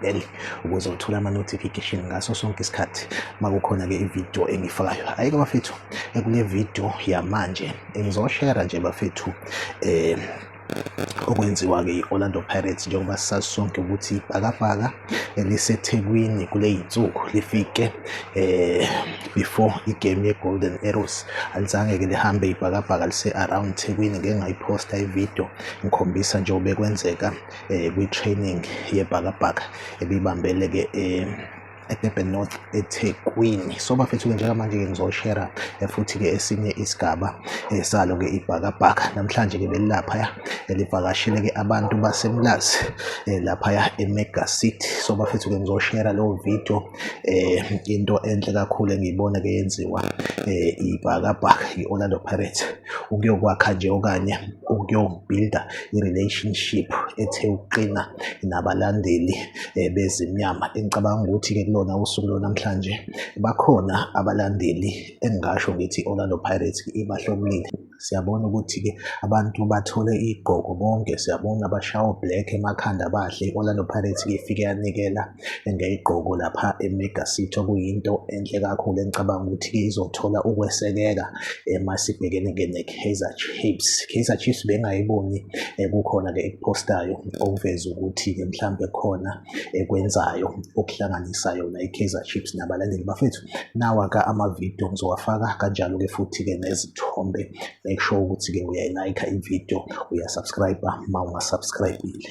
bell ukuze uthole ama-notification ngaso sonke isikhathi makukhona-ke ividiyo engifakayo ayike bafethu kule vidiyo yamanje ngizoshera nje bafethu um okwenziwa-ke i-orlando pirates njengoba sisazi sonke ukuthi ibhakabhaka elisethekwini kule yinsuku lifike eh before igame ye-golden arrows alizange-ke lihambe ibhakabhaka lise-around thekwini ngengayiphosta ividiyo ngikhombisa njengoba kwenzeka eh, kwi-training yebhakabhaka ebibambeleke eh, eDurban North eThekwini so bafethu-ke njengamanje-ke ngizoshera eh, futhi-ke esinye isigaba eh, salo-ke ibhakabhaka namhlanje-ke belilaphaya eh, livakashele-ke abantu basemlazi laphaya emega city so bafethu-ke ngizoshera leyo video um into enhle kakhulu engiyibona-ke yenziwa um ibhakabhaka i-orlando pirates ukuyokwakha nje okanye ukuyobhilda i-relationship ethe ukuqina nabalandeli eh, bezimnyama engicabanga ukuthi-ke kulona usuku lonamhlanje bakhona abalandeli engingasho ngithi i-orlando pirates ibahlomulile siyabona ukuthi-ke abantu bathole igqoko bonke siyabona bashawa black emakhanda bahle i-orlando pirates ifike yanikela engeyigqoko lapha eMega City okuyinto enhle kakhulu engicabanga ukuthi-ke izothola ukwesekeka uma sibhekene ke ne-Kaizer Chiefs. Kaizer Chiefs bengayiboni eh, kukhona-ke ekuphostayo okuveza ukuthi-ke mhlawumbe khona ekwenzayo okuhlanganisa yona i-Kaizer Chiefs nabalandeli bafethu. Nawa-ke amavidiyo ngizowafaka kanjalo-ke futhi-ke nezithombe make sure ukuthi-ke uyayilayikha ividiyo uyasubscribe uma ungasubscribile.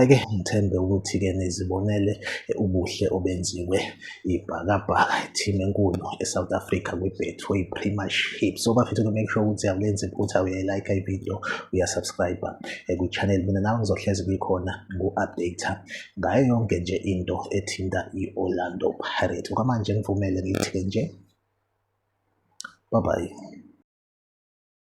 Ake ngithembe ukuthi-ke nizibonele ubuhle obenziwe iBhakabhaka, i-team enkulu e-South Africa kwi-Betway Premiership. So bafethu to make sure ukuthi awulenzi iphutha, uyayi-like ividiyo, uya-subscribe eh, kwi-channel. Mina nawe ngizohlezi kuyikhona ngu-update ngayo yonke nje into ethinta i-Orlando Pirates. Okwamanje ngivumele ngithi-ke nje, bye bye.